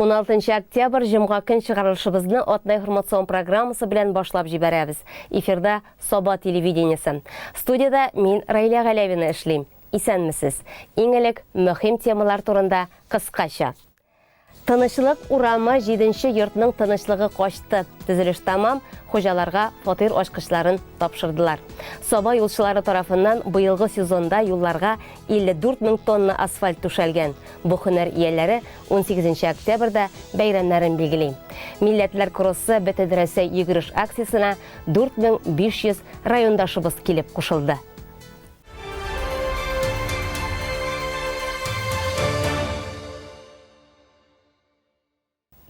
16 октябрь җомга көн чыгарылышыбызны Атна информацион программасы белән башлап җибәрәбез. Эфирда Саба телевидениесе. Студияда мин Райлә Галәвина эшлим. Исәнмесез. Иң элек мөһим темалар турында кыскача. Тынычлык урамы җиденче йортның тынычлыгы качты. Төзелеш тәмам, хуҗаларга фатир ачкычларын тапшырдылар. Саба юлчылары тарафыннан быелгы сезонда юлларга 54 мең тонна асфальт түшәлгән. Бу һөнәр ияләре 18 нче октябрьдә бәйрәмнәрен билгели. Милләтләр кроссы Бөтенрәсәй йөгереш акциясенә 4500 райондашыбыз килеп кушылды.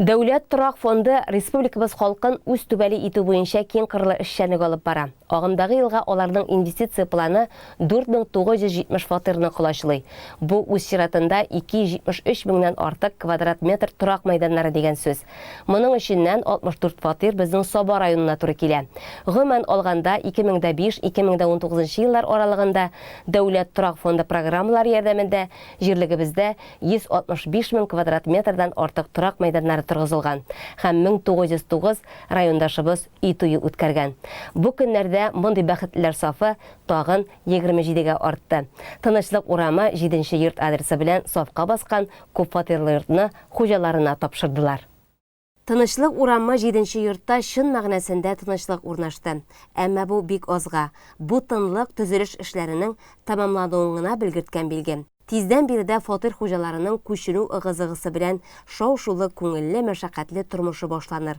Дәүләт торак фонды республикабыз халкын үз түбәле итү буенча киң кырлы эшчәнлек алып бара. Агымдагы елга аларның инвестиция планы 4970 фатирны колачлый. Бу үз чиратында 273 меңнән артык квадрат метр торак мәйданнары дигән сүз. Моның эченнән 64 фатир безнең Саба районына туры килә. Гомумән алганда, 2005-2019 еллар аралыгында Дәүләт торак фонды программалары ярдәмендә җирлегебездә 165 мең квадрат метрдан артык торак мәйданнары торгызылган һәм 1909 райондашыбыз өй туе үткәргән. Бу көннәрдә мондый бәхетлеләр сафы тагын 27 гә артты. Тынычлык урамы, җиденче йорт адресы белән сафка баскан күпфатирлы йортны хуҗаларына тапшырдылар. Тынычлык урамы җиденче йортта чын мәгънәсендә тынычлык урнашты. Әмма бу бик азга. Бу тынлык төзелеш эшләренең тәмамлануын гына белгерткән билге. Тиздән биредә фатир хуҗаларының күченү ыгы-зыгысы белән шау-шулы, күңелле, мәшәкатьле тормышы башланыр.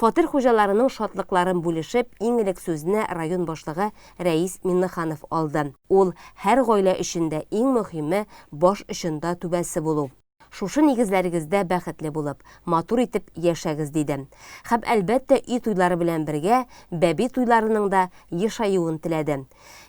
Фатир хуҗаларының шатлыкларын бүлешеп, иң элек сүзне район башлыгы Рәис Миннеханов алды. Ул, Һәр гаилә өчен дә иң мөһиме, баш очында түбәсе булу. Шушы нигезләрегездә бәхетле булып, матур итеп яшәгез, диде. Һәм, әлбәттә, өй туйлары белән бергә, бәби туйларының да ешаюын теләде.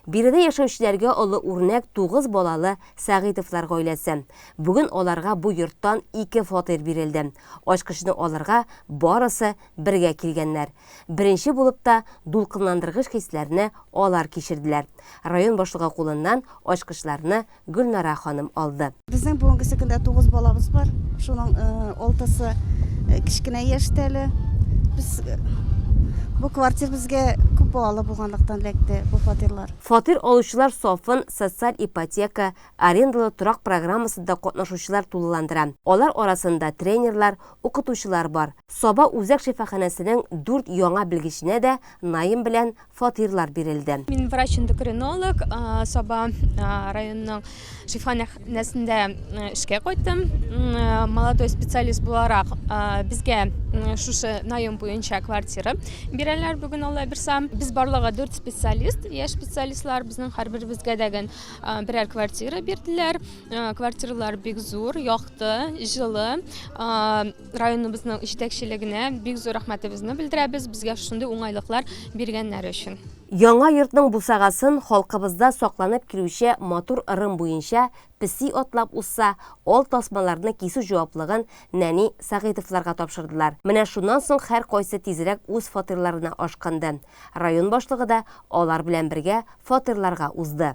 Биредә яшәүчеләргә олы үрнәк тугыз балалы Сәгыйтовлар гаиләсе. Бүген аларга бу йорттан ике фатир бирелде. Ачкычны алырга барысы бергә килгәннәр. Беренче булып та дулкынландыргыч хисләрне алар кичерделәр. Район башлыгы кулыннан ачкычларны Гөлнара ханым алды. Безнең бүгенгесе көндә тугыз балабыз бар. Шуның алтысы кечкенә яшьтә әле. Без бу квартир безгә күп балалы булганлыктан эләкте бу фатирлар. Фатир алучылар сафын социаль ипотека, арендалы торак программасында катнашучылар тулыландыра. Алар арасында тренерлар, укытучылар бар. Саба үзәк шифаханәсенең дүрт яңа белгеченә дә Наим белән фатирлар бирелде. Мин врач-эндокринолог, Саба районының шифаханәсендә эшкә кайттым. Молодой специалист буларак безгә шушы наем буенча квартира бирәләр бүген Алла бирса. Без барлыгы 4 специалист, яшь специалистлар. Безнең һәрберебезгә дәген берәр квартира бирделәр. Квартиралар бик зур, якты, җылы. Районыбызның җитәкчелегенә бик зур рәхмәтебезне белдерәбез, безгә шундый уңайлыклар биргәннәре өчен. Яңа йортның бусагасын халкыбызда сакланып килүче матур ырым буенча песи атлап узса, ал тасмаларны кисү җаваплыгын нәни Сәгыйтовларга тапшырдылар. Менә шуннан соң һәркайсы тизрәк үз фатирларына ашкынды. Район башлыгы да алар белән бергә фатирларга узды.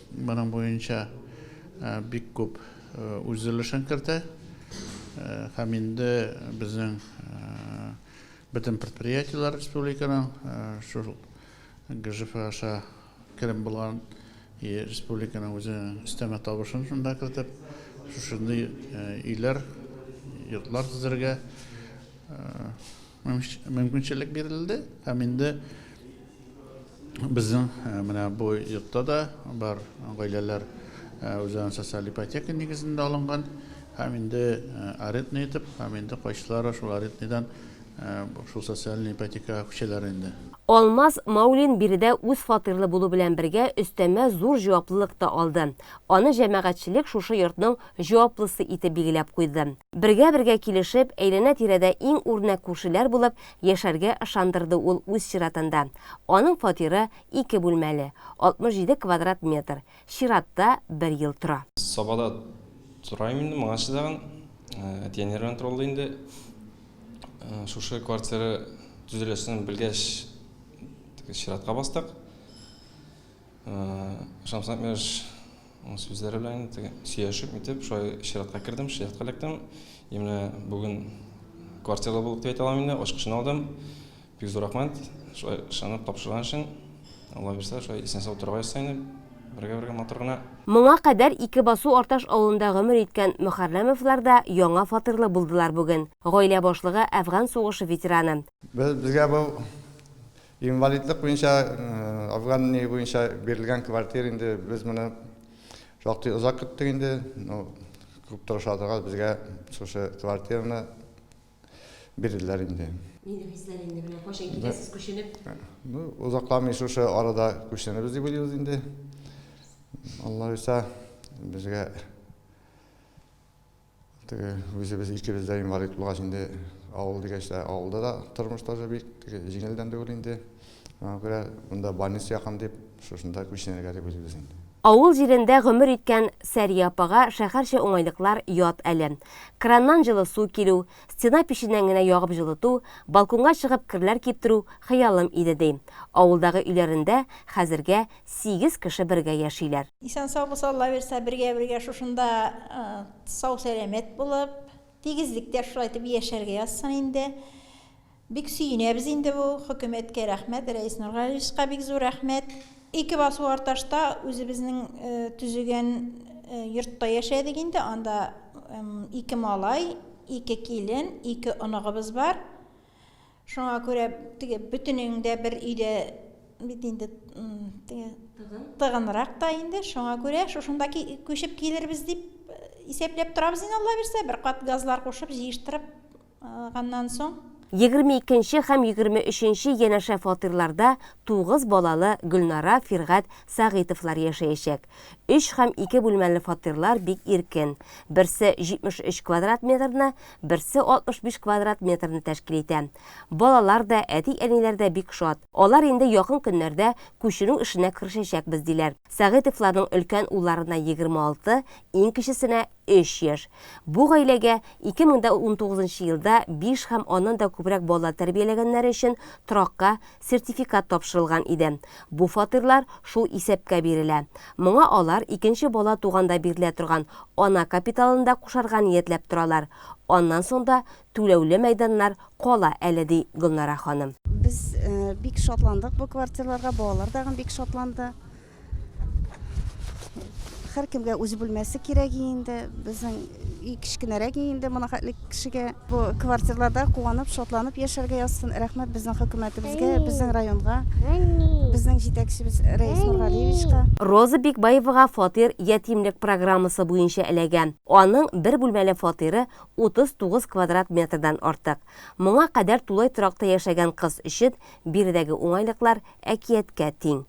Моның буенча бик күп үзлешен кертә. Һәм инде безнең бөтен предприятиеләр республиканың шул ГЖФ аша керем булган и республиканың үзенең өстәмә табышын шунда кертеп, шушындый өйләр, йортлар төзергә мөмкинчелек бирелде һәм инде безнең э, менә бу йортта да бар гаиләләр э, үзләрен социаль ипотека нигезендә алынган һәм инде э, арендный итеп һәм инде кайсылары шул арендныйдан шул социальный ипотека күчәләр инде Алмаз Маулин биредә үз фатирлы булу белән бергә өстәмә зур җаваплылык та алды. Аны җәмәгатьчелек шушы йортның җаваплысы итеп билгеләп куйды. Бергә-бергә килешеп, әйләнә-тирәдә иң үрнәк күршеләр булып яшәргә ышандырды ул үз чиратында. Аның фатиры ике бүлмәле, 67 квадрат метр, чиратта бер ел тора. Сабада торайм инде моңарчы тагын. Әти-әниләр белән торалар инде. Шушы квартира төзеләсен белгәч, теге чиратка бастык. Ышансаң еш. Сүзләре белән инде сөйләшеп итеп, шулай чиратка кердем, чиратка эләктем. И менә бүген квартиралы булып дип әйтә алам инде, ачкычын алдым. Бик зур рәхмәт, шулай ышанып тапшырган өчен. Алла бирсә, шулай исән-сау торырга язсын инде, бергә-бергә матур гына. Моңа кадәр ике басу Арташ авылында гомер иткән Мөхәррәмовлар да яңа фатирлы булдылар бүген. Гаилә башлыгы, әфган сугышы ветераны. Без, безгә бу Инвалидлык буенча, Афган нигезе буенча бирелгән квартира инде без моны шактый озак көттек инде. Ну, күп тырышадыга безгә шушы квартираны бирделәр инде. Нинди хисләр инде менә кайчан китәсез күченеп? Ну, озакламый шушы арада күченебез дип уйлыйбыз инде. Алла уйса, безгә Теге үзебез икебез дә инвалид булгач инде авыл дигәч тә авылда да тормыш тоже бик җиңелдән түгел инде. Шуңа күрә монда больница якын дип, шушында күченергә дип уйлыйбыз инде. Авыл җирендә гомер иткән Сәрия апага шәһәрчә уңайлыклар ят әле. Краннан җылы су килү, Стена печеннән генә ягып җылыту, балконга чыгып керләр киптерү хыялым иде, ди. Авылдагы өйләрендә хәзергә сигез кеше бергә яшиләр. Исән-сау булса, Алла бирса, бергә-бергә шушында сау-сәламәт булып, тигезлектә шулай итеп яшәргә язсын инде. Бик сөенәбез инде бу хөкүмәткә рәхмәт, Рәис Нургалиевска бик зур рәхмәт. Ике басу Арташта үзебезнең төзегән йортта яшәдек инде, анда ике малай, ике килен, ике оныгыбыз бар. Шуңа күрә теге бөтенең дә бер өйдә бит инде теге тыгынрак та инде, шуңа күрә шушында күчеп килербез дип исәпләп торабыз инде, Алла бирсә, бер кат газлар кушып, җыештырып Ганнан соң. Егерме икенче һәм егерме өченче янәшә фатирларда тугыз балалы Гөлнара, Фиргать Сәгыйтовлар яшәячәк. Өч һәм ике бүлмәле фатирлар бик иркен. Берсе 73 квадрат метрны, берсе 65 квадрат метрны тәшкил итә. Балалар да, әти-әниләр дә бик шат. Алар инде якын көннәрдә күченү эшенә керешәчәкбез, диләр. Сәгыйтовларның өлкән улларына 26, иң кечесенә Өч яшь. Бу гаиләгә 2019 елда биш һәм аннан да күбрәк бала тәрбияләгәннәре өчен торакка сертификат тапшырылган иде. Бу фатирлар шул исәпкә бирелә. Моңа алар икенче бала туганда бирелә торган ана капиталын да кушарга ниятләп торалар. Аннан соң да түләүле мәйданнар кала әле, ди Гөлнара ханым. Без бик шатландык бу квартирларга, балалар тагын бик шатланды. һәркемгә үз бүлмәсе кирәк инде безнең өй кечкенәрәк инде моның хәтле кешегә бу квартирларда куанып шатланып яшәргә язсын рәхмәт безнең хөкүмәтебезгә безнең районга безнең җитәкчебез рәис нургалиевичка Роза Бикбаевага фатир ятимлек программасы буенча эләгә. Аның бер бүлмәле фатиры 39 квадрат метрдан артык. Моңа кадәр тулай торакта яшәгән кыз өчен биредәге уңайлыклар әкияткә тиң.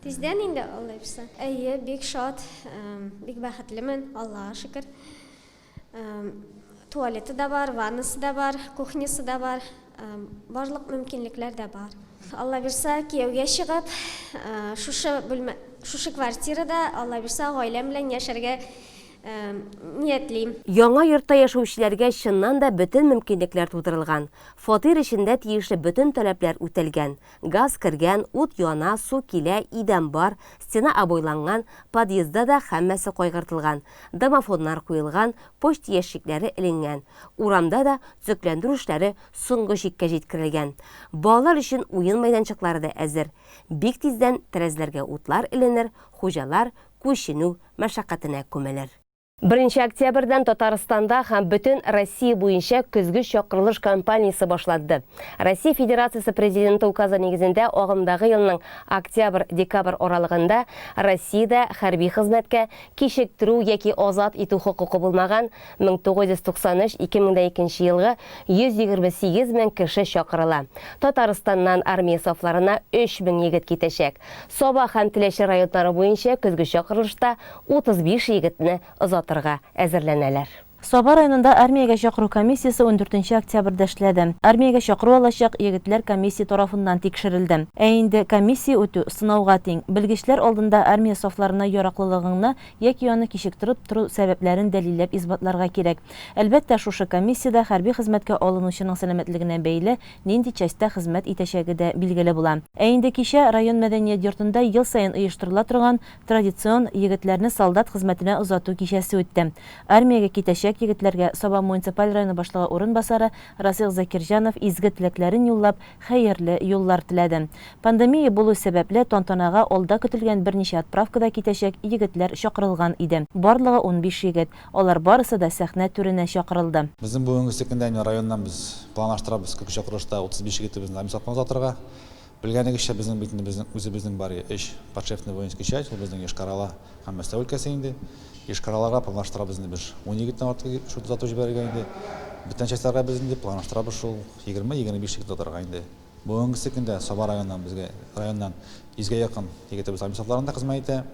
Тиздән инде алайпса. Әйе, бик шат, бик бәхетлемен, Аллага шөкер. Туалеты да бар, ваннасы да бар, кухнясы да бар, барлык мөмкинлекләр дә бар. Алла бирса, кияүгә чыгып, шушы бүлмә, шушы квартирада, Алла бирса, гаиләм белән яшәргә ниятлим. Яңа йортта яшәүчеләргә чыннан да бөтен мөмкинлекләр тудырылган. Фатир эчендә тиешле бөтен таләпләр үтәлгән. Газ кергән, ут яна, су килә, идән бар, стена обойланган, подъездда да һәммәсе кайгыртылган, домофоннар куелган, почта ящикләре эленгән. Урамда да төзекләндерү эшләре соңгы чиккә җиткерелгән. Балалар өчен уен мәйданчыклары да әзер. Бик тиздән тәрәзәләргә утлар эленер, хуҗалар күченү мәшәкатенә күмелер. Беренче октябрьдән Татарстанда һәм бөтен Россия буенча көзге чакырылыш кампаниясе башланды. Россия Федерациясе Президенты указы нигезендә агымдагы елның октябрь-декабрь аралыгында Россиядә хәрби хезмәткә кичектерү яки азат итү хокукы булмаган 1993-2002 елгы 128 мең кеше чакырыла. Татарстаннан армия сафларына 3 мең егет китәчәк. Саба һәм Теләче районнары буенча көзге чакырылышта 35 егетне озатырга әзерләнәләр. Саба районында армиягә чакыру комиссиясе ундүртенче октябрьдә эшләде. Армиягә чакыру алачак егетләр комиссия тарафыннан тикшерелде. Ә инде комиссия үтү, сынауга тиң. Белгечләр алдында армия сафларына яраклылыгыңны яки аны кичектереп тору сәбәпләрен дәлилләп исбатларга кирәк. Әлбәттә, шушы комиссиядә хәрби хезмәткә алынучының сәламәтлегенә бәйле нинди частьта хезмәт итәчәге дә билгеле була. Ә инде кичә район мәдәният йортында ел саен оештырыла торган традицион Егетләрне солдат хезмәтенә озату кичәсе үтте. Армиягә китәчәк егетләргә Саба муниципаль районы башлыгы урынбасары Расих Закирҗанов изге теләкләрен юллап, хәерле юллар теләде. Пандемия булу сәбәпле, тантанага алда көтелгән берничә отправкада китәчәк егетләр чакырылган иде. Барлыгы унбиш егет. Алар барысы да сәхнә түренә чакырылды. Безнең бүгенге көндә менә районнан без планлаштырабыз, күп чакырылышта утыз биш егетебезне армия сафына озатырга. Белгәнегезчә, безнең бит инде безнең үзебезнең бар өч подшефный воинский часть, ул безнең Йошкар-Ола һәм Мәскәү өлкәсе инде. Йошкар-Олага планлаштырабыз инде без унике генә атты шул тотату җибәрергә инде. Беткән частьләргә без инде планлаштырабыз шул егерме-егерме биш тик тотарга инде. Бүгенге көндә Саба районыннан безгә районнан йөзгә якын егетебез армия сафларында хезмәт итә.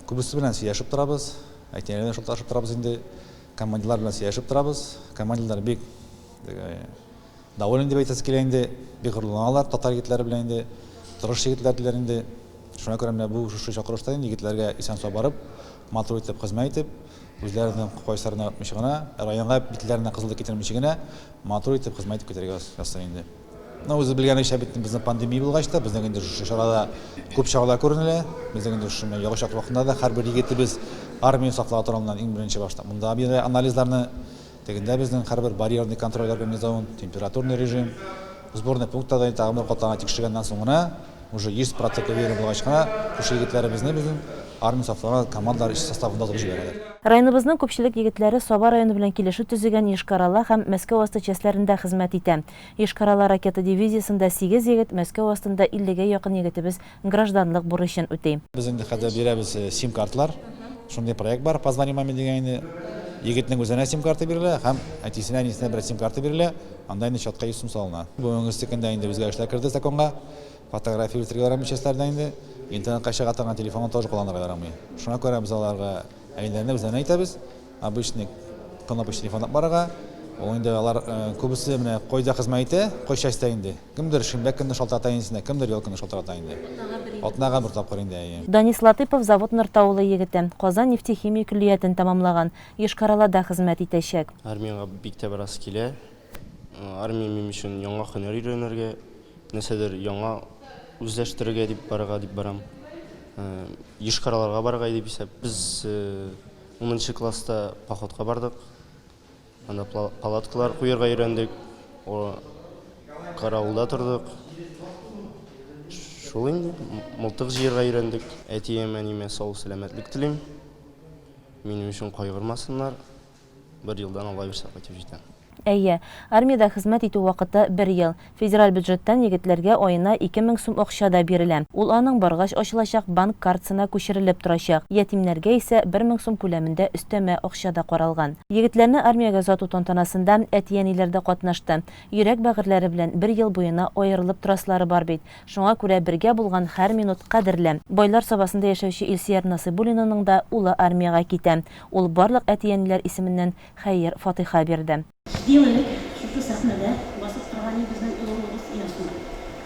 Күбесе белән сөйләшеп торабыз, әтиләре белән шалтырашып торабыз инде. Командирлар белән сөйләшеп торабыз. Командирлар бик Доволен дип әйтәсе килә инде, бик горурланалар татар егетләре белән инде, тырыш егетләр диләр инде. Шуна күрә менә бу шушы чакырышта инде егетләргә исән-сау барып, матур итеп хезмәт итеп, үзләренең кайсыларын яратмыйча гына, районга битләренә кызыллык китермичә генә матур итеп хезмәт итеп китәргә язсын инде. Ну, үзегез белгәнегезчә бит, безнең пандемия булгач та, безнең инде шушы чарада күп чаралар күренелә. Безнең инде шушы менә ягу чакыру вакытында да һәрбер егетебез армияне саклау турында иң беренче башта монда бирә анализларны. Тегендә безнең һәрбер барьерный контроль организован, температурный режим, сборный пунктта да инде тагын бер катланга тикшергәннән соң гына, уже 100 процент уверен булгач кына, күрше егетләребезне безнең армия сафларына командалар эш составында озып җибәрәләр. Районыбызның күпчелек егетләре Саба районы белән килешү төзегән Йошкар-Ола һәм Мәскәү асты частьләрендә хезмәт итә. Йошкар-Ола ракета дивизиясендә сигез егет, Мәскәү астында иллегә якын егетебез гражданлык бурычын үти. Без инде хәзер бирәбез сим-картлар. Шундый проект бар, Позвони маме дигән инде. Егетнең үзенә сим-карта бирелә һәм әтисенә, әнисенә берәр сим-карта бирелә. Анда инде чатка 100 сум салына. Бүгенгесе көндә инде үзгәрешләр керде законга. Фотография үстерергә ярамыйча өсләрдә инде. Интернетка чыга торган телефонны тоже кулланырга ярамый. Шуңа күрә без аларга әниләренә, үзләренә әйтәбез, обычный кнопочный телефон алып барырга. Ул инде алар күбесе менә кайда хезмәт итә, кай частьтә инде. Кемдер шимбә көнне шалтырата инесенә, кемдер ял көне шалтырата инде. Атнага бер тапкыр инде, әйе. Данис Латыйпов Завод Нортаулы егете, Казан нефтехимия көллиятен тәмамлаган, Йошкар-Олада хезмәт итәчәк. Армиягә бик тә барасы килә. Армия минем өчен яңа һөнәр өйрәнергә, нәрсәдер яңа үзләштерергә дип барырга дип барам. Йошкар-Олага барырга иде бисап. Без унынчы класста походка бардык. Анда палаткалар куярга өйрәндек, каравылда тордык. Шул инде, мылтык җыярга өйрәндек. Әтием, әниемә сау сәламәтлек телим. Минем өчен кайгырмасыннар. Бер елдан алга бирсә кайтып җитәм. Әйе, армиядә хезмәт итү вакыты бер ел. Федераль бюджеттан егетләргә аена ике мең сум акча да бирелә. Ул аның баргач ачылачак банк картсына күчерелеп торачак. Ятимнәргә исә бер мең сум күләмендә өстәмә акча да каралган. Егетләрне армиягә озату тантанасында әти-әниләр дә катнашты. Йөрәк бәгырьләре белән бер ел буена аерылып торасылары бар бит. Шуңа күрә бергә булган һәр минут кадерле. Байлар Сабасында яшәүче Илсөяр Насыйбуллинаның да улы армиягә китә. Ул барлык әти-әниләр исеменнән хәер-фатыйха бирде. Җиде ел элек шушы сәхнәдә басып торган иде безнең олы улыбыз Яшнур.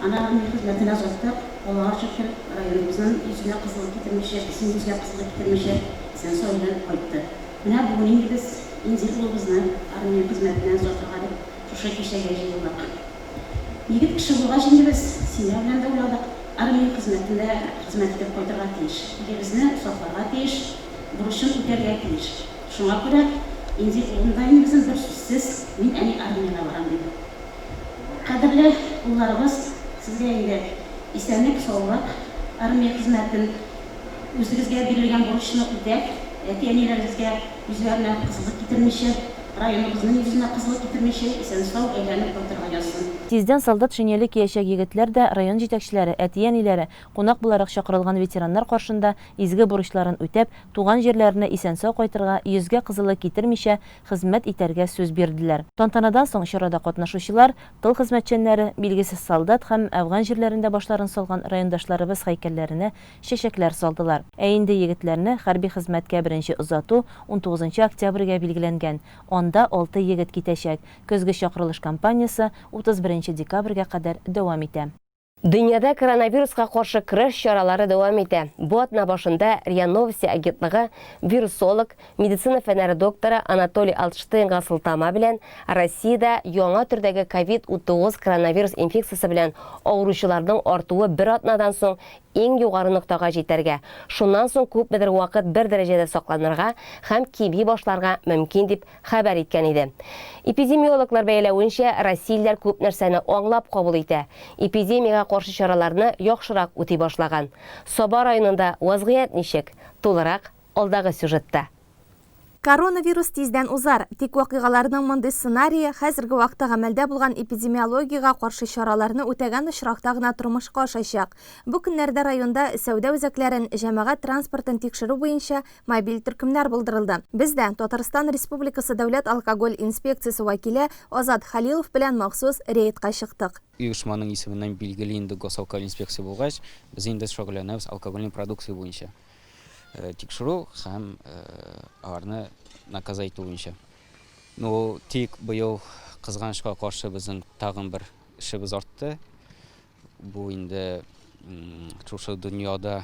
Аны армия хезмәтенә озаттык, Аллага шөкер, районыбызның йөзенә кызыллык китермичә, безнең йөзгә кызыллык китермичә исән-сау-имин кайтты. Менә бүген инде без Инзил улыбызны армия хезмәтенә озатырга дип шушы кичәгә җыелдык. Егет кеше булгач инде без семья белән дә уйладык, армия хезмәтендә хезмәт итеп кайтырга тиеш, илебезне сакларга тиеш, бурычын үтәргә тиеш. Шуңа күрә инде инвалидизм берсүзсез, мин әни армиягә барам, диде. Кадерле улларыбыз, сезгә инде исәнлек-саулык, армия хезмәтен, үзегезгә бирелгән бурычны үтәп, әти-әниләрегезгә үзләренә кызыклык китермичә, районыбызның йөзенә кызыллык китермичә, исән-сау әйләнеп кайтырга язсын. Тиздән солдат шинеле киячәк егетләр дә район җитәкчеләре, әти-әниләре, кунак буларак чакырылган ветераннар каршында изге бурычларын үтәп, туган җирләренә исән-сау кайтырга, йөзгә кызылы китермичә, хезмәт итәргә сүз бирделәр. Тантанадан соң чарада катнашучылар, тыл хезмәтчәннәре, билгесез солдат һәм әфган җирләрендә башларын салган райондашларыбыз һәйкәлләренә чәчәкләр салдылар. Ә инде егетләрне хәрби хезмәткә беренче озату унтугызынчы октябрьгә билгеләнгән, анда алты егет китәчәк. Көзге чакырылыш кампаниясе утыз беренче декабрьгә кадәр дәвам итә. Дөньяда коронавируска каршы көрәш чаралары дәвам итә. Бу атна башында РИА Новости агентлыгы вирусолог, медицина фәннәре докторы Анатолий Алтштейнга сылтама белән Россиядә яңа төрдәге ковид-19 коронавирус инфекциясе белән авыручыларның артуы бер атнадан соң иң югары ноктага җитәргә, шуннан соң күпмедер вакыт бер дәрәҗәдә сакланырга һәм кими башларга мөмкин дип хәбәр иткән иде. Эпидемиологлар бәяләвенчә, россиялеләр күп нәрсәне аңлап кабул итә, эпидемиягә каршы чараларны яхшырак үти башлаган. Саба районында вазгыять ничек? Тулырак, алдагы сюжетта. Коронавирус тиздән узар, тик вакыйгаларның мондый сценарие хәзерге вакытта гамәлдә булган эпидемиологиягә каршы чараларны үтәгән очракта гына тормышка ашачак. Бу көннәрдә районда сәүдә үзәкләрен, җәмәгать транспортын тикшерү буенча Мобиль төркемнәр булдырылды. Без дә Татарстан Республикасы Дәүләт алкоголь инспекциясе вәкиле Азат Хәлилов белән махсус рейдка чыктык. Оешманың исеменнән билгеле инде Госалкоголь инспекция булгач, без инде шөгыльләнәбез алкогольный продукция буенча тикшерү һәм аларны наказа итү буенча. Ну, тик быел кызганычка каршы безнең тагын бер эшебез артты. Бу инде шушы дөньяда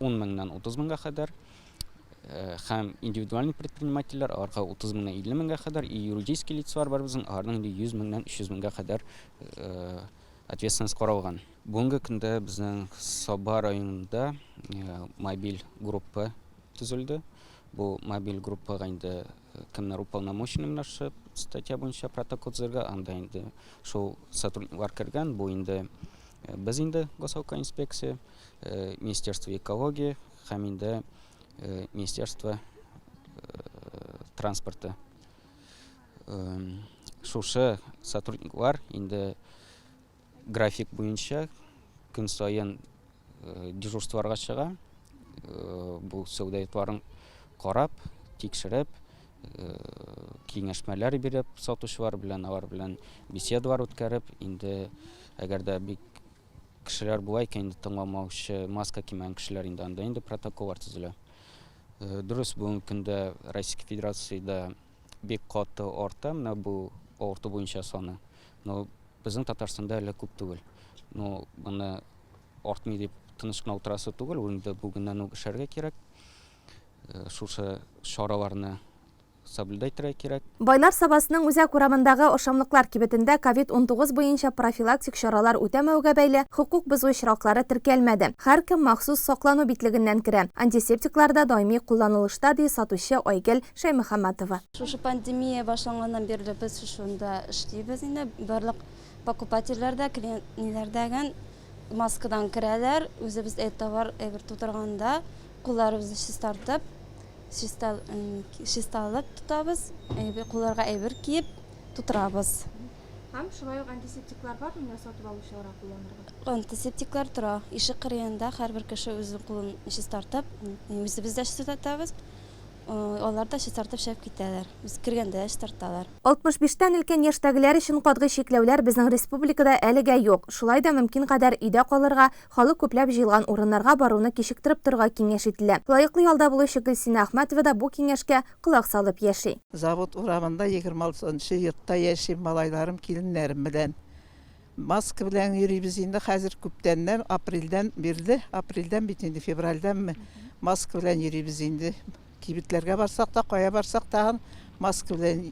10 меңнән 30 меңгә кадәр һәм индивидуальный предпринимательләр аларга 30 меңнән 50 меңгә кадәр и юридический лицалар бар безнең аларның инде 100 меңнән 300 меңгә кадәр ответственность каралган бүгенге көндә безнең саба районында мобиль группа төзелде бу мобиль группага инде Кемнәр уполномоченный белән шушы статья буенча протокол төзергә, анда инде шул сотрудниклар кергән, бу инде э, без инде госавка инспекция, э, министерство экологии һәм инде э, министерство транспорты. Шушы сотрудниклар инде График буенча көн саен дежурстволарга чыга. Бу сәүдәятларын карап, тикшереп, киңәшмәләр биреп, сатучылар белән, алар белән беседалар үткәреп, инде әгәр дә бик кешеләр була икән, инде тыңламаучы, маска кимәгән кешеләр инде анда инде протоколлар төзелә. Дөрес, бүгенге көндә Российская Федерациядә Бик каты арта менә бу авырту буенча саны. Но безнең Татарстанда әле күп түгел. Но моны артмый дип тыныч кына утырасы түгел, инде бүгеннән үк эшләргә кирәк. Э, шушы чараларны соблюдать итәргә кирәк. Байлар Сабасының үзәк урамындагы ашамлыклар кибетендә COVID-19 буенча профилактик чаралар үтәмәүгә бәйле хокук бозу очраклары теркәлмәде. Һәркем махсус саклану битлегеннән керә. Антисептиклар да даими кулланылышта, ди сатучы Айгел Шәймөхәммәтова. Шушы пандемия башланганнан бирле без шушында эшлибез инде. Барлык покупательләр дә, клиентлар да гел маскадан керәләр. Үзебез әйб товар әйбер тутырганда, кулларыбызны чистартып, чиста чисталык тотабыз, әйбер кулларга әйбер киеп тутырабыз. Һәм шулай ук антисептиклар бар менә сатып алучыларга кулланырга? Антисептиклар тора. Ишек кырыенда һәрбер кеше үзенең кулын чистартып, үзебез дә чистартабыз. Алар да чистартып чыгып китәләр. Без кергәндә дә чистарталар. 65 тән өлкән яшьтәгеләр өчен катгый чикләүләр безнең республикада әлегә юк. Шулай да мөмкин кадәр өйдә калырга, халык күпләп җыелган урыннарга баруны кичектереп торырга киңәш ителә. Лаеклы ялда булучы Гөлсинә Әхмәтова да бу киңәшкә колак салып яши. Завод урамында 26 нчы йортта яшим малайларым, киленнәрем белән. Маска белән йөрибез инде хәзер күптәннән, апрельдән бирле, апрельдән бит инде, февральдәнме маска белән йөрибез инде. Кибетләргә барсак та, кая барсак тагын маска белән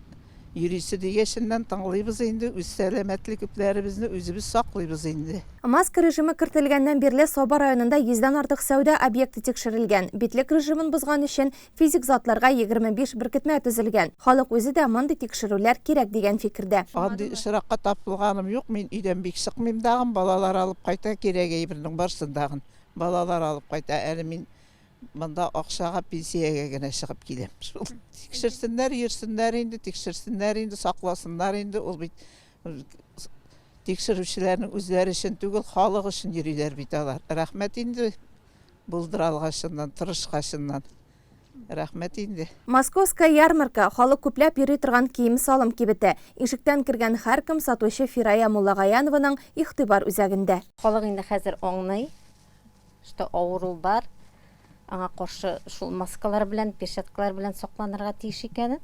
йөрисе дигәченнән тыңлыйбыз инде, үз сәламәтлекләребезне үзебез саклыйбыз инде. Маска режимы кертелгәннән бирле Саба районында йөздән артык сәүдә объекты тикшерелгән. Битлек режимын бозган өчен Физик затларга егерме биш беркетмә төзелгән. Халык үзе дә мондый тикшерүләр кирәк дигән фикердә. Андый очракка тап булганым юк, мин өйдән бик чыкмыйм дагын, балалар алып кайта кирәк әйбернең барсын дагын. Балалар алып кайта, әле мин монда акчага, пенсиягә генә чыгып киләм шул. Тикшерсеннәр, йөрсеннәр инде, тикшерсеннәр инде, сакласыннар инде, ул бит тикшерүчеләрнең үзләре өчен түгел, халык өчен йөриләр бит алар. Рәхмәт инде. Булдыралгачыннан, тырышкачыннан. Рәхмәт инде. Московская ярмарка, халык күпләп йөри торган кием-салым кибете. Ишектән кергән һәркем сатучы Фирая Муллагаянованың игътибар үзәгендә. Халык инде хәзер аңлый, что авыру бар, аңа каршы шул маскалар белән, перчаткалар белән сакланырга тиеш икәнен.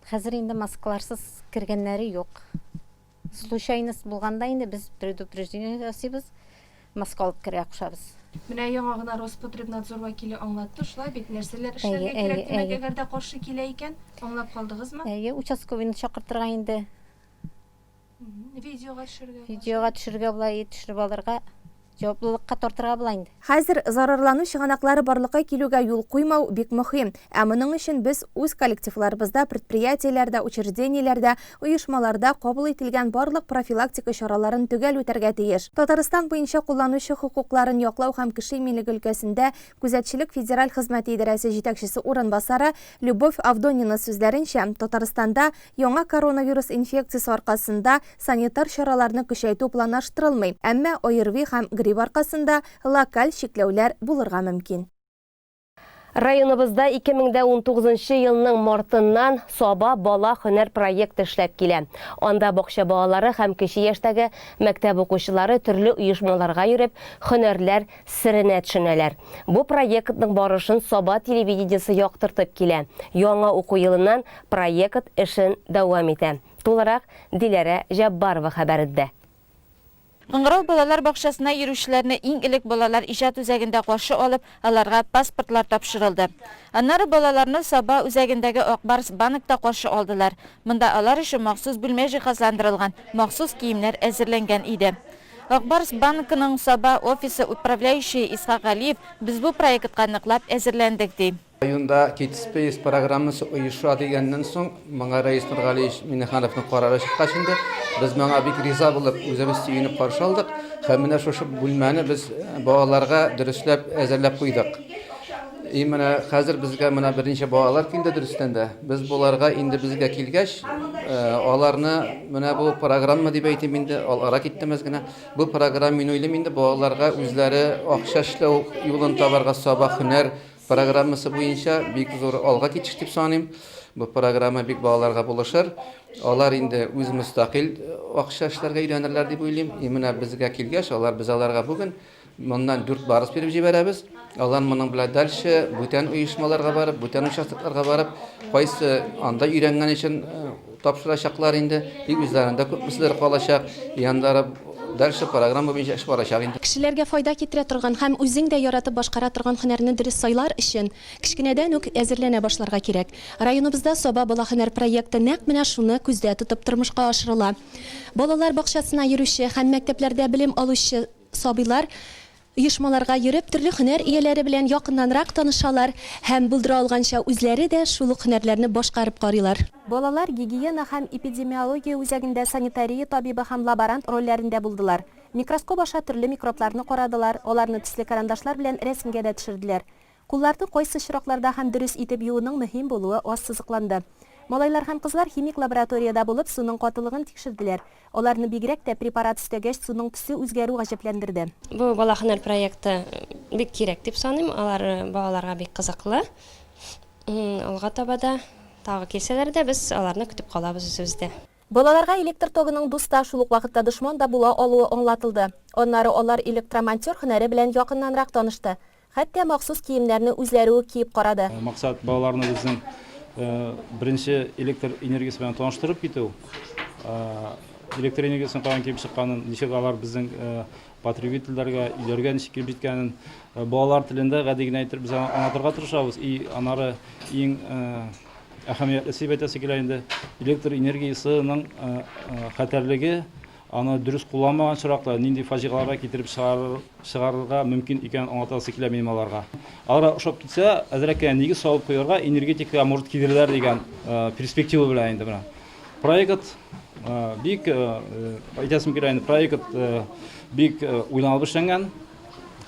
Хәзер инде маскаларсыз кергәннәре юк. Случайность булганда инде без предупреждение ясыйбыз, маска алып керергә кушабыз. Менә яңа гына Роспотребнадзор вәкиле аңлатты, шулай бит, нәрсәләр эшләргә кирәк, димәк, әгәр дә каршы килә икән, аңлап калдыгызмы? Әйе, участковыйны чакыртырга инде. Видеога төшергә. Видеога төшергә була, төшереп алырга. Җаваплылыкка тартырга була инде. Хәзер зарарлану чыганаклары барлыкка килүгә юл куймау бик мөһим. Ә моның өчен без үз коллективларыбызда, предприятиеләрдә, учреждениеләрдә, оешмаларда кабул ителгән барлык профилактика чараларын төгәл үтәргә тиеш. Татарстан буенча кулланучы хокукларын яклау һәм кеше иминлеге өлкәсендә Күзәтчелек федераль хезмәте идарәсе җитәкчесе урынбасары Любовь Авдонина сүзләренчә, Татарстанда яңа коронавирус инфекциясе аркасында санитар чараларны көчәйтү планлаштырылмый, әмма ОРВИ һәм грипп аркасында локаль чикләүләр булырга мөмкин. Районыбызда 2019 нчы елның мартыннан Саба бала һөнәр проекты эшләп килә. Анда бакча балалары һәм кече яшьтәге мәктәп укучылары төрле оешмаларга йөреп, һөнәрләр серенә төшенәләр. Бу проектның барышын Саба телевидениесе яктыртып килә, яңа уку елыннан проект эшен дәвам итә. Тулырак Диләрә Җәббарова хәбәрендә. Кыңгырау балалар бакчасына йөрүчеләрне иң элек балалар иҗат үзәгендә каршы алып, аларга паспортлар тапшырылды. Аннары балаларны Саба үзәгендәге Ак Барс банкта каршы алдылар. Монда алар өчен махсус бүлмә җиһазландырылган, махсус киемнәр әзерләнгән иде. Ак Барс банкының Саба офисы управляющие Исхак Галиев, Без бу проектка ныклап әзерләндек, ди. Районда Кидспейс программасы оеша дигәннән соң, моңа Рәис Нургалиевич Миңнехановның карары чыккач инде, без моңа бик риза булып, үзебез сөенеп каршы алдык һәм менә шушы бүлмәне без балаларга дөресләп әзерләп куйдык. И менә хәзер безгә менә берничә балалар килде дөрестән дә. Без боларга инде безгә килгәч, аларны менә бу программа дип әйтим инде, алара киттем әз генә. Бу программа мин уйлыйм инде балаларга үзләре акча эшләү юлын табарга сабак һөнәр программасы буенча бик зур алга китеш дип саныйм. Бу программа бик балаларга булышыр. Алар инде үз мөстәкыйль акча эшләргә өйрәнерләр дип уйлыйм. И менә безгә килгәч алар без аларга бүген Моннан дүрт барс биреп җибәрәбез. Алар моның белән дальше бүтән оешмаларга барып, бүтән участокларга барып, кайсы анда өйрәнгән өчен тапшырачаклар инде, тик үзләрендә күпмеседер калачак, яннары дальше программа буенча эш барачак инде. Кешеләргә файда китерә торган һәм үзең дә яратып башкара торган һөнәрне дөрес сайлар өчен, кечкенәдән үк әзерләнә башларга кирәк. Районыбызда Саба бала һөнәр проекты нәкъ менә шуны күздә тотып тормышка ашырыла. Балалар бакчасына йөрүче һәм мәктәпләрдә белем алучы, Сабыйлар оешмаларга йөреп, төрле һөнәр ияләре белән якыннанрак танышалар һәм булдыра алганча үзләре дә шул ук һөнәрләрне башкарып карыйлар. Балалар гигиена һәм эпидемиология үзәгендә санитария табибы һәм лаборант рольләрендә булдылар. Микроскоп аша төрле микробларны карадылар, аларны төсле карандашлар белән рәсемгә дә төшерделәр. Кулларны кайсы очракларда һәм дөрес итеп юуның мөһим булуы ассызыкланды. Малайлар һәм кызлар химик лабораториядә булып, суның катылыгын тикшерделәр. Аларны бигрәк тә препарат өстәгәч суның төсе үзгәрү гаҗәпләндерде. Бу бала һөнәр проекты бик кирәк дип саныйм. Алар балаларга бик кызыклы. Алга таба да тагы килсәләр дә, без аларны көтеп калабыз үзебездә. Балаларга электр тогының дус та, шул ук вакытта дошман да була алуы аңлатылды. Аннары алар электромонтер һөнәре белән якыннанрак танышты. Хәтта махсус киемнәрне үзләре үк киеп карады. Максат, балаларны безнең беренче электр энергиясе белән таныштырып китү. Электр энергиясенең каян килеп чыкканын, ничек алар безнең потребительләргә, өйләргә ничек килеп җиткәнен балалар телендә гади генә итеп без аңлатырга тырышабыз. И анары иң әһәмиятлесе дип әйтәсе килә инде, электр энергиясенең хәтәрлеге Аны дөрес кулланмаган очракта нинди фаҗигаларга китереп чыгарырга мөмкин икәнен аңлатасы килә минем аларга. Аларга ошап китсә, әзрәк кенә нигез салып куярга, энергетикага морд кидерерләр дигән перспектива белән инде менә проект бик, әйтәсем килә инде, проект бик уйланылып эшләнгән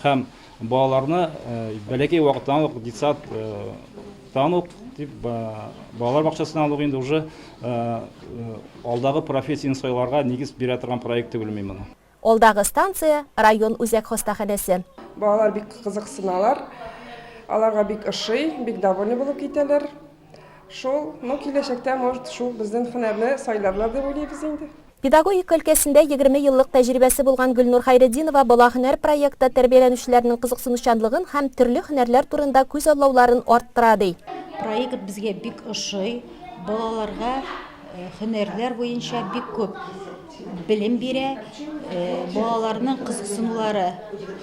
һәм Балаларны бәләкәй вакыттан ук детсад тан ук дип балалар бакчасыннан ук инде уже алдагы профессияне сайларга нигез бирә торган проект түгелме мин моны. Алдагы станция, район үзәк хастаханәсе. Балалар бик кызыксыналар, аларга бик ошый, бик довольный булып китәләр. Шул, ну киләчәктә, может, шул безнең һөнәрне сайларлар дип уйлыйбыз инде. Педагогика өлкәсендә егерме еллык тәҗрибәсе булган Гөлнур Хәйретдинова Бала һөнәр проекты тәрбияләнүчеләрнең кызыксынучанлыгын һәм төрле һөнәрләр турында күзаллауларын арттыра, ди. Проект безгә бик ошый. Балаларга һөнәрләр буенча бик күп белем бирә. Балаларның кызыксынулары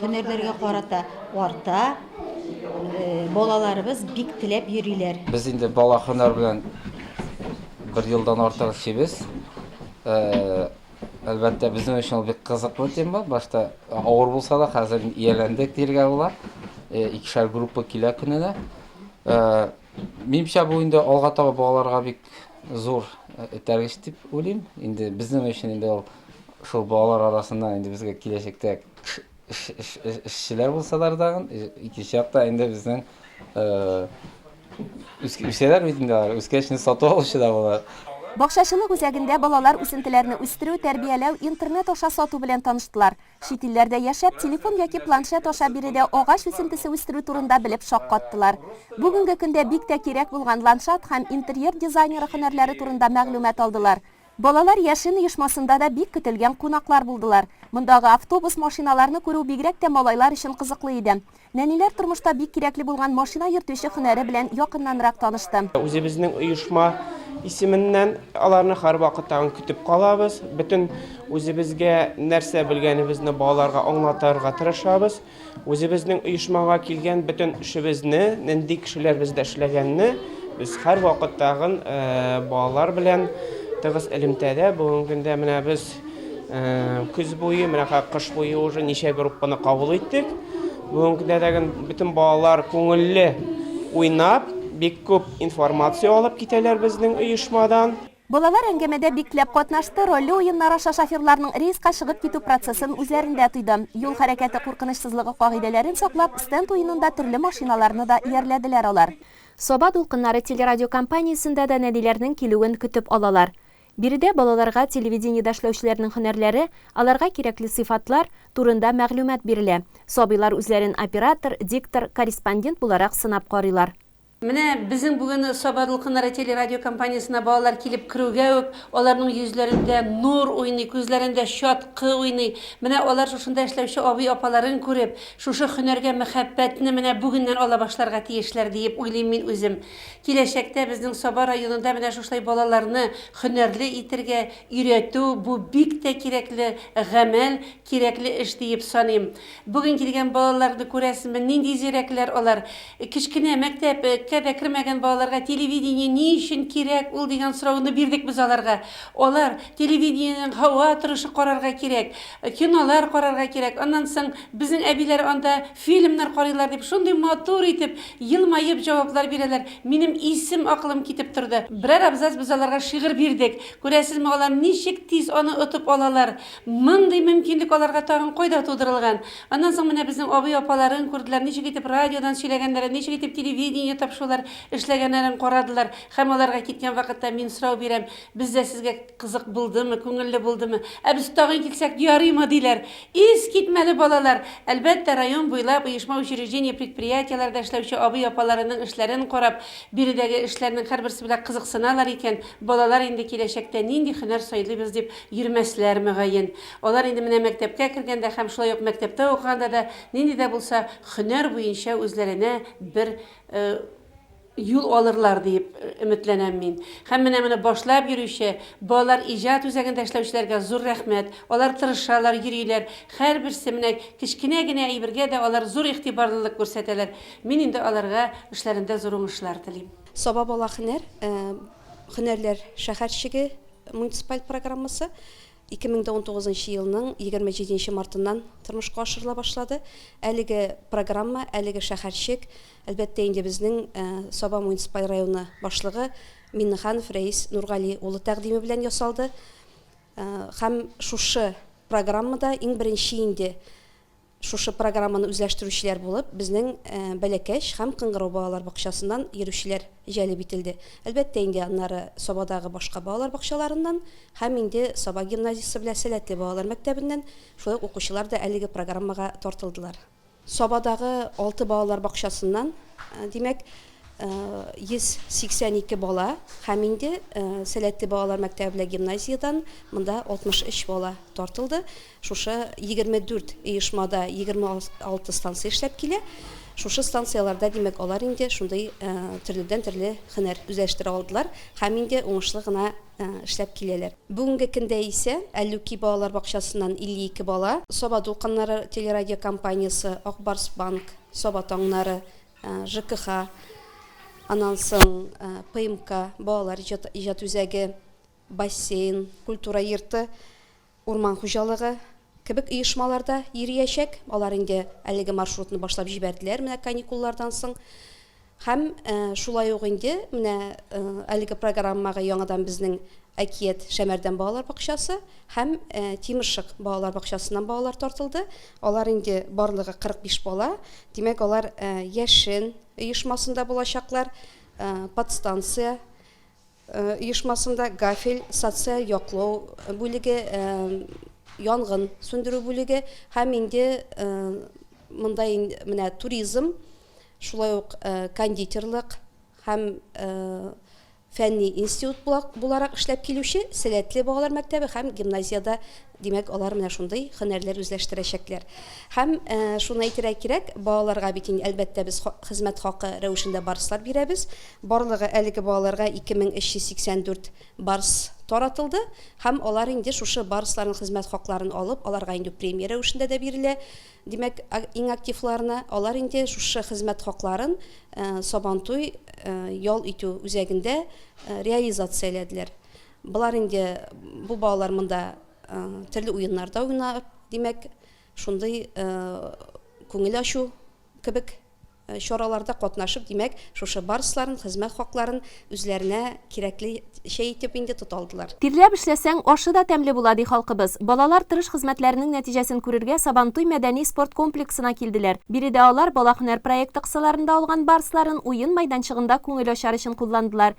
һөнәрләргә карата арта. Балаларыбыз бик теләп йөриләр. Без инде бала һөнәр белән Бер елдан артык эшлибез. Әлбәттә, безнең өчен ул бик кызыклы тема. Башта авыр булса да, хәзер ияләндек диергә була. Икешәр группа килә көненә. Минемчә, бу инде алга таба балаларга бик зур этәргеч дип уйлыйм. Инде безнең өчен инде ул шул балалар арасында инде безгә киләчәктә Эшчеләр булсалар тагын, икенче якта инде безнең үсәләр бит инде алар, үскәч инде сату алучы да була. Бакчачылык үзәгендә балалар үсентеләрне үстерү, тәрбияләү, интернет аша сату белән таныштылар. Чит илләрдә яшәп, телефон яки планшет аша биредә агач үсентесе үстерү турында белеп шаккаттылар. Бүгенге көндә бик тә кирәк булган ландшафт һәм интерьер дизайнеры һөнәрләре турында мәгълүмат алдылар. Балалар яшен оешмасында да бик көтелгән кунаклар булдылар. Мондагы автобус, машиналарны күрү бигрәк тә малайлар өчен кызыклы иде. Нәниләр тормышта бик кирәкле булган машина йөртүче һөнәре белән якыннанрак танышты. Үзебезнең оешма исеменнән аларны һәрвакыт тагын көтеп калабыз. Бөтен үзебезгә нәрсә белгәнебезне балаларга аңлатырга тырышабыз. Үзебезнең оешмага килгән бөтен эшебезне, нинди кешеләр бездә эшләгәнне без һәрвакыт тагын балалар белән тыгыз элемтәдә. Бүгенге көндә менә без көз буе, менә кыш буе уже ничә группаны кабул иттек. Бүгенге көндә дә бөтен балалар күңелле уйнап, бик күп информация алып китәләр безнең оешмадан. Балалар әңгәмәдә бикләп катнашты, рольле уеннар аша шоферларның рейска чыгып китү процессын үзләрендә тойды. Юл хәрәкәте куркынычсызлыгы кагыйдәләрен саклап, стенд уенында төрле машиналарны да иярләделәр алар. Саба дулкыннары телерадиокомпаниясендә дә нәниләрнең килүен көтеп алалар. Биредә балаларга телевидениедә эшләүчеләрнең һөнәрләре, аларга кирәкле сыйфатлар, турында мәгълүмат бирелә. Сабыйлар үзләрен оператор, диктор, корреспондент буларак сынап карыйлар. Менә безнең бүген Сабадулкыннары телерадиокомпаниясенә балалар килеп керүгә үк аларның йөзләрендә нур уйный, күзләрендә чаткы уйный. Менә алар шушында эшләүче абый-апаларын күреп, шушы һөнәргә мәхәббәтне менә бүгеннән ала башларга тиешләр, диеп уйлыйм мин үзем. Киләчәктә безнең Саба районында менә шушылай балаларны һөнәрле итергә, өйрәтү, бу бик тә кирәкле гамәл, Кирәкле эш диеп саныйм. Бүген килгән балаларны күрәсезме, нинди зирәкләр алар. Кечкенә мәктәп кә дә кермәгән балаларга телевидение ни өчен кирәк ул дигән сорауны бирдек без аларга. Алар, телевидениенең һава торышы карарга кирәк, кинолар карарга кирәк, аннан соң безнең әбиләр анда фильмнар карыйлар дип шундый матур итеп, елмаеп җаваплар бирәләр, минем исем-акылым китеп торды. Берәр абзац без аларга шигырь бирдек. Күрәсезме, алар ничек тиз аны отып алалар. Мондый мөмкинлек аларга тагын кайда тудырылган? Аннан соң менә безнең абый-апаларын күрделәр, ничек итеп радиодан сөйләгәннәрен, ничек итеп телевидение тапшырулар эшләгәннәрен карадылар. Һәм аларга киткән вакытта мин сорау бирәм, Бездә сезгә кызык булдымы, күңелле булдымы? Ә без тагын килсәк ярыймы? диләр. Искитмәле балалар! Әлбәттә, район буйлап оешма-учреждение, предприятиеләрдә эшләүче абый-апаларының эшләрен карап, биредәге эшләрнең һәрберсе белән кызыксыналар икән, балалар инде киләчәктә нинди һөнәр сайлыйбыз дип Йөрмәсләр, мөгаен. Алар инде менә мәктәпкә кергәндә һәм шулай ук мәктәптә укыганда да нинди дә булса һөнәр буенча үзләренә бер юл алырлар диеп өметләнәм мин. Һәм менә моны башлап йөрүче Балалар иҗат үзәгендә эшләүчеләргә зур рәхмәт. Алар тырышалар, йөриләр. Һәрберсе, менә кечкенә генә әйбергә дә алар зур игътибарлылык күрсәтәләр. Мин инде аларга эшләрендә зур уңышлар телим. Саба бала һөнәр, һөнәрләр шәһәрчеге, Муниципаль программасы 2019 нчы елның 27 нче мартыннан тормышка ашырыла башлады. Әлеге программа, әлеге шәһәрчек, әлбәттә инде безнең Саба муниципаль районы башлыгы Миннеханов Рәис Нургали улы тәкъдиме белән ясалды. Һәм шушы программада иң беренче инде Шушы программаны үзләштерүчеләр булып безнең Бәләкәч һәм Кыңгырау балалар бакчасыннан йөрүчеләр җәлеп ителде. Әлбәттә инде, аннары Сабадагы башка балалар бакчаларыннан һәм инде Саба гимназиясе белән Сәләтле балалар мәктәбеннән шулай ук укучылар да әлеге программага тартылдылар. Сабадагы алты балалар бакчасыннан, димәк, 182 бала һәм инде Сәләтле балалар мәктәбе белән гимназиядән монда 63 бала тартылды. Шушы егерме дүрт оешмада егерме алты станция эшләп килә. Шушы станцияләрдә, димәк, алар инде шундый төрледән-төрле һөнәр үзләштерә алдылар һәм инде уңышлы гына эшләп киләләр. Бүгенге көндә исә Әллүки балалар бакчасыннан 52 бала, Саба дулкыннары телерадиокомпаниясе, Ак Барс банк, Саба таңнары, ЖКХ, аннан соң ПМК, балалар иҗат үзәге, бассейн, культура йорты, урман хуҗалыгы кебек оешмалар да йөриячәк. Алар инде әлеге маршрутны башлап җибәрделәр менә каникуллардан соң. Һәм шулай ук инде менә әлеге программага яңадан безнең Әкият Шәмәрдән балалар бакчасы һәм Тимершык балалар бакчасыннан балалар тартылды. Алар инде барлыгы 45 бала. Димәк, алар Яшен оешмасында булачаклар, подстанция оешмасында гафель, социаль яклау бүлеге, янгын сүндерү бүлеге һәм инде монда менә туризм, шулай ук кондитерлык һәм фәнни институт буларак эшләп килүче Сәләтле балалар мәктәбе һәм гимназиядә Димәк, алар менә шундый һөнәрләр үзләштерәчәкләр. Һәм шуны әйтергә кирәк, балаларга бит инде, әлбәттә, без хезмәт хакы рәвешендә барслар бирәбез. Барлыгы әлеге балаларга 2384 барс таратылды. Һәм алар инде шушы барсларның хезмәт хакларын алып, аларга инде премия рәвешендә дә бирелә. Димәк, иң активларына. Алар инде шушы хезмәт хакларын Сабантуй ял итү үзәгендә реализацияләделәр. Болар инде бу балалар монда төрле уеннарда уйнап, димәк, шундый күңел ачу кебек чараларда катнашып, димәк, шушы барысларын, хезмәт хакларын үзләренә кирәклечә итеп инде тота алдылар. Тирләп эшләсәң, ашы да тәмле була, ди халкыбыз. Балалар тырыш хезмәтләренең нәтиҗәсен күрергә Сабантуй мәдәни-спорт комплексына килделәр. Биредә алар Бала-һөнәр проекты кысаларында алган барысларын уен майданчыгында күңел ачар өчен кулландылар.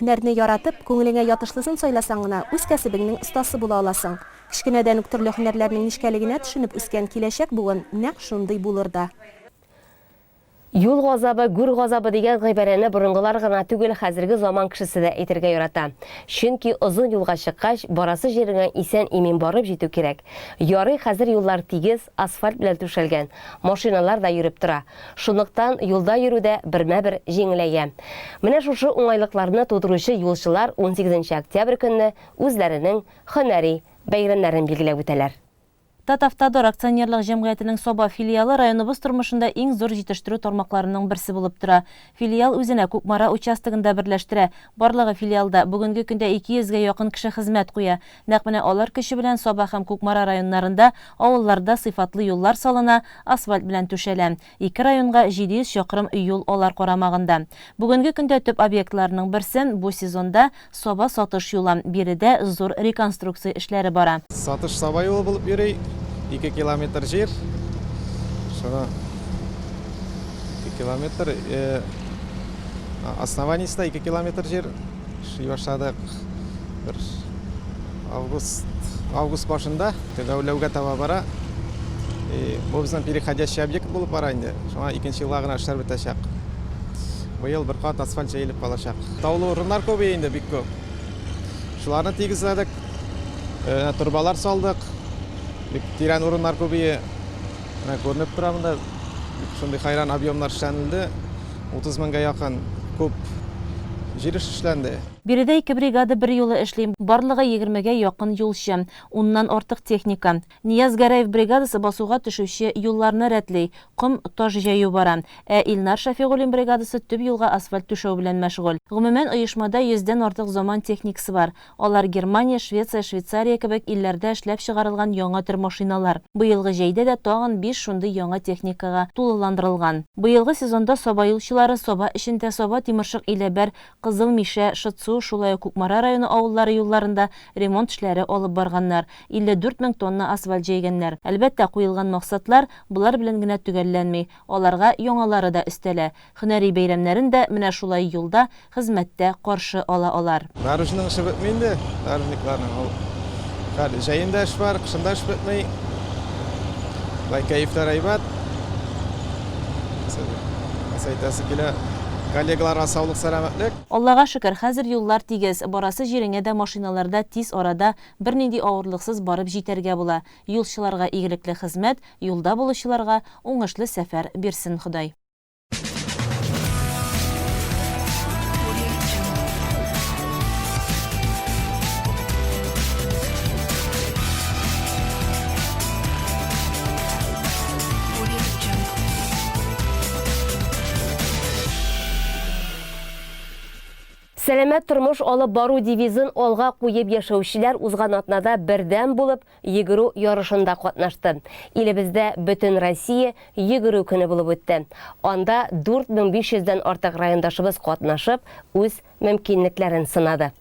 Һөнәрне яратып, күңелеңә ятышлысын сайласаң гына, үз кәсебеңнең остасы була аласың. Кечкенәдән үк төрле һөнәрләрнең нечкәлегенә төшенеп үскән киләчәк буын нәкъ шундый булыр да. Юл газабы, гүр газабы дигән гыйбарәне борынгылар гына түгел, хәзерге заман кешесе дә әйтергә ярата. Чөнки озын юлга чыккач, барасы җиреңә исән-имин барып җитү кирәк. Ярый, хәзер юллар тигез, асфальт белән түшәлгән, машиналар да йөреп тора. Шунлыктан юлда йөрү дә бермә-бер җиңеләя. Менә шушы уңайлыкларны тудыручы юлчылар унсигезенче октябрь көнне үзләренең һөнәри бәйрәмнәрен билгеләп үтәләр. Татавтодор акционерлык җәмгыятенең Саба филиалы районыбыз тормышында иң зур җитештерү тармакларының берсе булып тора. Филиал үзенә Кукмара участогын да берләштерә. Барлыгы филиалда, бүгенге көндә ике йөзгә якын кеше хезмәт куя. Нәкъ менә алар көче белән Саба һәм Кукмара районнарында авылларда сыйфатлы юллар салына, асфальт белән түшәлә. Ике районга 700 чакрым юл алар карамагында. Бүгенге көндә төп объектларның берсе, бу сезонда Саба Сатыш юлы. Биредә зур реконструкция эшләре бара. Сатыш Саба юлы булып йөри. Ике километр җир. Шуны ике километр основаниесенә ике километр җир. Эшли башладык. Бер август, август башында төгәүләүгә таба бара. И бу безнең переходящий объект булып бара инде. Шуңа икенче елга гына эшләр бетәчәк. Быел бер кат асфальт җәелеп калачак. Таулы урыннар күп инде, бик күп. Шуларны тигезләдек. Э, турбалар салдык. Бик тирән урыннар күбие. Менә күренеп тора монда. Шундый хайран объемнар эшләнелде. 30 меңгә якын күп җир эше эшләнде. Биредә ике бригада берьюлы эшли, барлыгы егермегә якын юлчы, уннан артык техника. Нияз Гәрәев бригадасы басуга төшүче юлларны рәтли, ком, таш җәю бара. Ә Илнар Шәфигуллин бригадасы төп юлга асфальт түшәү белән мәшгуль. Гомумән, оешмада йөздән артык заман техникасы бар. Алар Германия, Швеция, Швейцария кебек илләрдә эшләп чыгарылган яңа төр машиналар. Быелгы җәйдә дә тагын биш шундый яңа техникага тулыландырылган. Быелгы сезонда Саба юлчылары Саба эчендә, Саба, Тимершык, Иләбәр, Кызыл Мишә, Шытсу, шулай ук Кукмара районы авыллары юлларында ремонт эшләре алып барганнар, 54 мең тонна асфальт җәйгәннәр. Әлбәттә, куелган максатлар болар белән генә төгәлләнми, аларга яңалары да өстәлә. Һөнәри бәйрәмнәрен дә менә шулай юлда, хезмәттә каршы ала алар. Наружның эше бетми инде, наружникларның. Ул хәл җәен дә эш бар, кышын да эш бетми. Болай кәефләр әйбәт. Нәрсә әйтәсе килә, коллегаларга саулык, сәламәтлек. Аллага шөкер, хәзер юллар тигез, барасы җиреңә дә машиналарда тиз арада, бернинди авырлыксыз барып җитәргә була. Юлчыларга игелекле хезмәт, юлда булучыларга уңышлы сәфәр бирсен Ходай. Сәламәт тормыш алып бару девизын алга куеп яшәүчеләр узган атнада бердәм булып, йөгерү ярышында катнашты. Илебездә Бөтенроссия йөгерү көне булып үтте. Анда 4500 дән артык райондашыбыз катнашып, үз мөмкинлекләрен сынады.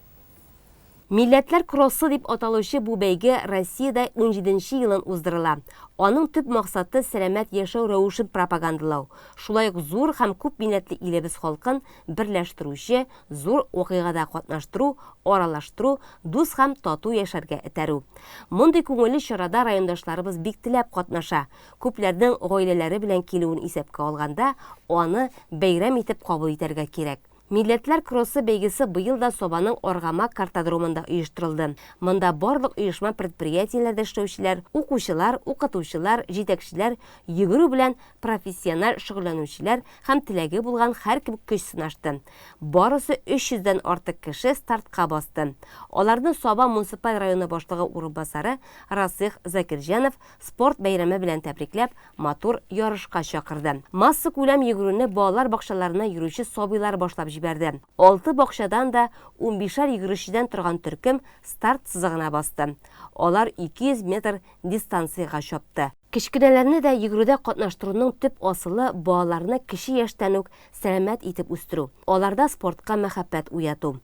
Милләтләр кроссы дип аталучы бу бәйге Россиядә унҗиденче елын уздырыла. Аның төп максаты, сәламәт яшәү рәвешен пропагандалау, шулай ук зур һәм күп милләтле илебез халкын берләштерүче, зур вакыйгада катнаштыру, аралаштыру, дус һәм тату яшәргә этәрү. Мондый күңелле чарада райондашларыбыз бик теләп катнаша. Күпләрнең гаиләләре белән килүен исәпкә алганда, аны бәйрәм итеп кабул итәргә кирәк. Милләтләр кроссы бәйгесе быел да Сабаның Аргамак картодромында оештырылды. Монда барлык оешма-предприятиеләрдә эшләүчеләр, укучылар, укытучылар, җитәкчеләр, йөгерү белән профессиональ шөгыльләнүчеләр, һәм теләге булган һәркем көч сынашты. Барысы 300 дән артык кеше стартка басты. Аларны Саба муниципаль районы башлыгы урынбасары Расыйх Закирҗанов спорт бәйрәме белән тәбрикләп, матур ярышка чакырды. Массакүләм йөгерүне балалар бакчаларына йөрүче сабыйлар башлап җибәрде. Алты бакчадан да унбишәр йөгерүчедән торган төркем старт сызыгына басты. Алар 200 метр дистанциягә чапты. Кечкенәләрне дә йөгерүдә катнаштыруның төп асылы, балаларны кече яшьтән үк сәламәт итеп үстерү, аларда спортка мәхәббәт уяту.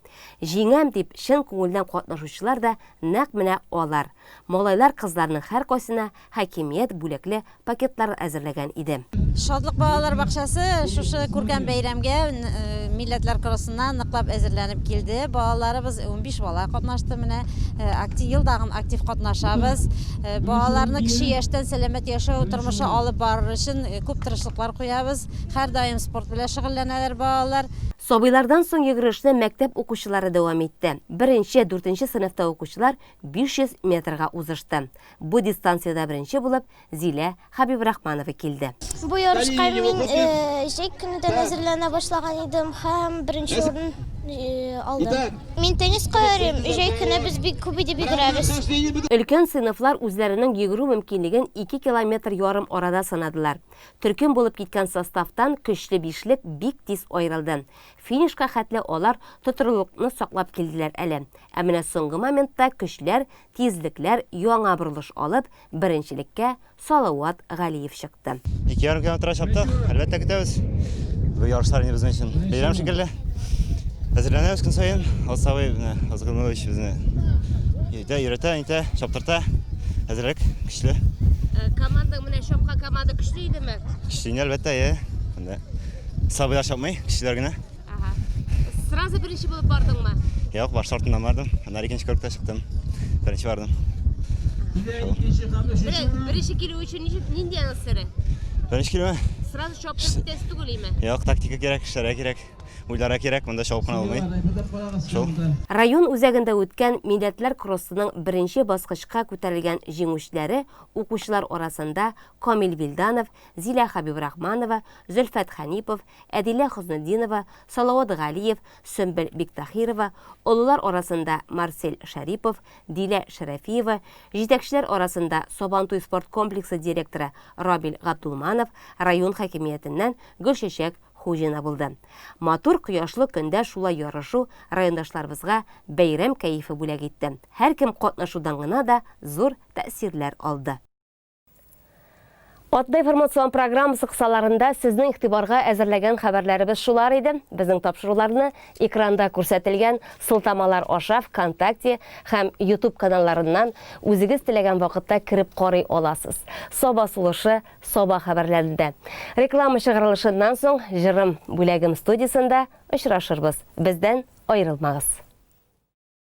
Җиңәм дип чын күңелдән катнашучылар да нәкъ менә алар. Малайлар-кызларның һәркайсына хакимият бүләкле пакетлар әзерләгән иде. Шатлык балалар бакчасы шушы күркәм бәйрәмгә Милләтләр кроссына ныклап әзерләнеп килде. Балаларыбыз унбиш бала катнашты. Менә акти ел дагын актив катнашабыз. Балаларны кече яшьтән сәламәт яшәү тормышы алып барыр өчен күп тырышлыклар куябыз. Һәрдаим спорт белән шөгыльләнәләр балалар. Сабыйлардан соң йөгерешне мәктәп укучылары дәвам итте. Беренче, дүртенче сыйныфта укучылар 500 метрга узышты. Бу дистанциядә беренче булып Зилә Хабибрахманова килде. Бу ярышка мин җәй көнедән әзерләнә башлаган идем һәм беренче урын алдым. Мин тенниска йөрим, җәй көне без бик күп итеп йөгерәбез. Өлкән сыйныфлар үзләренең йөгерү мөмкинлеген ике километр ярым арада сынадылар. Төркем булып киткән составтан көчле бишлек бик тиз аерылды. Финишка хәтле алар тотрыклыкны саклап килделәр әле. Ә менә соңгы моментта көчләр, тизлекләр яңа борылыш алып, Беренчелеккә Салават Галиев чыкты. Ике ярым километр чаптык, әлбәттә көтәбез. Бу ярышлар инде безнең өчен бәйрәм шикелле. Әзерләнәбез көн саен. Алсавый менә Азгынович безне өйдә өйрәтә, әйтә, чаптырта. Әзерлек көчле. Э, команда менә чапка команда көчле идеме? Көчле әлбәттә, е. Сабыйлар чапмый, көчлеләр генә. Ага. Сразу беренче булып бардыңмы? Юк, баш артыннан бардым. Аннары икенче көрккә чыктым. Беренче бардым. Беренче килү өчен ничек нинди аның сире? Беренче килү? Сразу чоп китәсе түгелме? Юк, тактика кирәк, эшләргә кирәк. Уйлара кирәк, монда чоп кына алмый. Шул. Район үзәгендә үткән милләтләр кроссының беренче баскычка күтәрелгән җиңүчеләре укучылар арасында Камил Вилданов, Зилә Хәбибрахманова, Зөлфәт Хәнипов, Әдилә Хөснетдинова, Салават Галиев, Сөмбел Биктаһирова, олылар арасында Марсель Шәрипов, Дилә Шәрәфиева, җитәкчеләр арасында Сабантуй спорт комплексы директоры Равил Габдулманов, район хакимиятеннән Гөлчәчәк Хуҗина булды. Матур кояшлы көндә шулай ярышу райондашларыбызга бәйрәм кәефе бүләк итте. Һәркем катнашудан гына да зур тәэсирләр алды. Атна информацион программасы кысаларында сезнең игътибарга әзерләгән хәбәрләребез шулар иде. Безнең тапшыруларны экранда күрсәтелгән сылтамалар аша ВКонтакте һәм YouTube каналларыннан үзегез теләгән вакытта кереп карый аласыз. Саба сулышы, саба хәбәрләрендә. Реклама чыгарылышыннан соң җырым бүләгем студиясендә очрашырбыз. Бездән аерылмагыз.